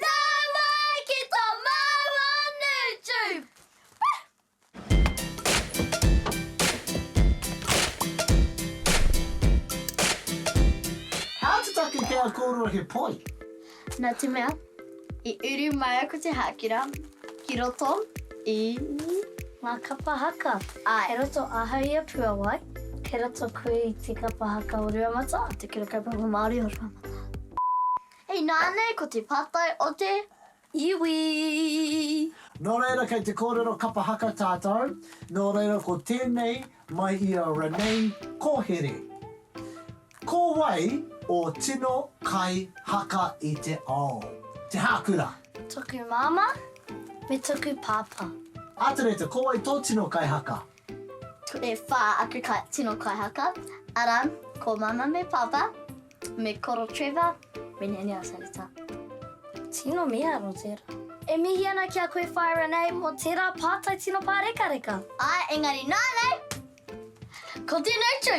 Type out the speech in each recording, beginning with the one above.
Nā mai ki tō māua Newtube! How to take care of kōrua he poi. Nā te mea, i uru mai aku te hākira ki roto i ngā kapa haka. Āe. Kei roto ahau i a Puawai. Kei roto koe i te kapa haka o Ruamata. Te Kura Kaupapa Māori o Ruamata. Inānei ko te pātai o te iwi. Nō reira kei te kōrero kapa haka tātou, nō reira ko tēnei mai i a Renee Kohere. Ko wai ō tino kai haka i te ao? Te hākura? Toku māmā me toku pāpā. Atereta, ko wai tō tino kai haka? E whā aku tino kaihaka, arā, ko Māmā me Pāpā, me Koro Trevor, me Nene Asareta. Tino miha nō tērā. E mihi ana ki a koe whaea Renee mō tērā pātai tino pārekareka. Āe, engari nānei, ko tēnei tū!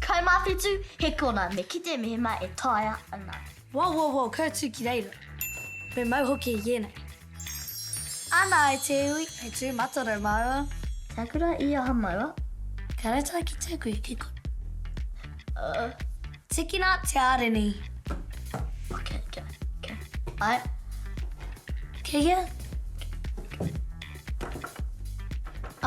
Kai mā whitu, he kona, me kite mehemā e taea ana. Wow wow wow kau tū ki reira. Me mau hoki i ēnei. Ana ai te iwi, he tū matarau māua. Kia kura i aha māua? Kia rata ki te kui ki kona. Uh. Tikina te ārini. Okay, okay, okay. Ai. Kei hea?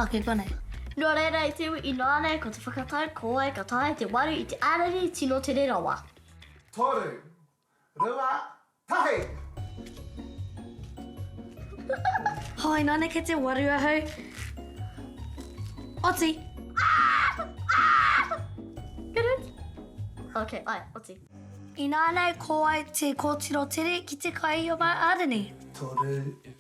Ake konei. Nō reira i te iwi inoa nei ko te whakatau ko wai ka taea te waru i te arere tino tere rawa. Toru. Rua. Tahi! Hoi nō nei kei te waru ahau. Oti! Good one. Ok, ae, oti. Inānei ko wai te kōtiro tere ki te kai i ō māu arere. Toru.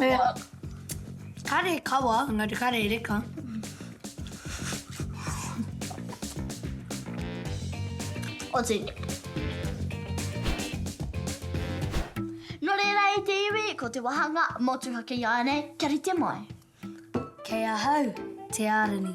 He kare kawa, engari kare reka. O tēnei. Nō reira e te iwi, ko te wāhanga motuhake ināianei kia rite mai. Kei ahau, Te Ārani,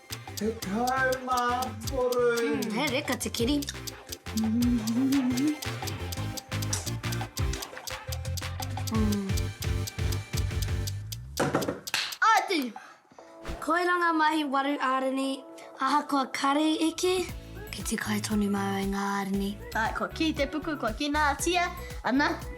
Tekau mā toru. Mm, he reka te kiri. Mm. Atu! Koiranga mahi waru ārini, ahakoa karei eke, ki te kai tonu māu e ngā ārini. Ai, kua kī te puku, kua kīnātia, ana,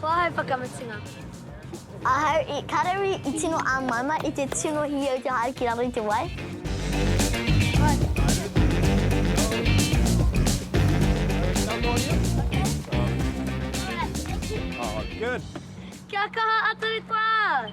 Ko ahau whakamutunga. Ahau i karaui i tino āmaima i te tino hiau te haere ki raro i te wai. Kia kaha a Turi Toa!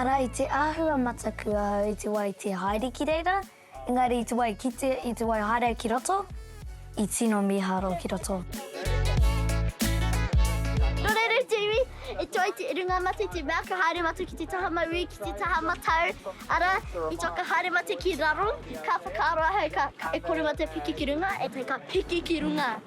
Arā, i te āhua mataku ahau i te wā i te haere ki reira, engari i te wā i kite, i te wā i haere ki roto, i tino mīharo ki roto. E toa te runga mate te mea ka haere mate ki te taha mauī, ki te taha matau. Ara, i toa ka haere mate ki raro, ka whakaaro ahau ka e kore mate piki ki runga, e te ka piki ki runga.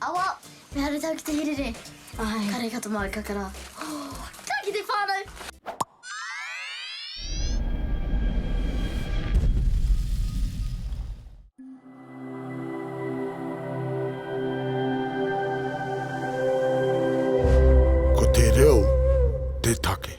Awa, me haratau ki te hirere. Kare ka to mau kakara. Ka ki te whanau! Ko te reo te take.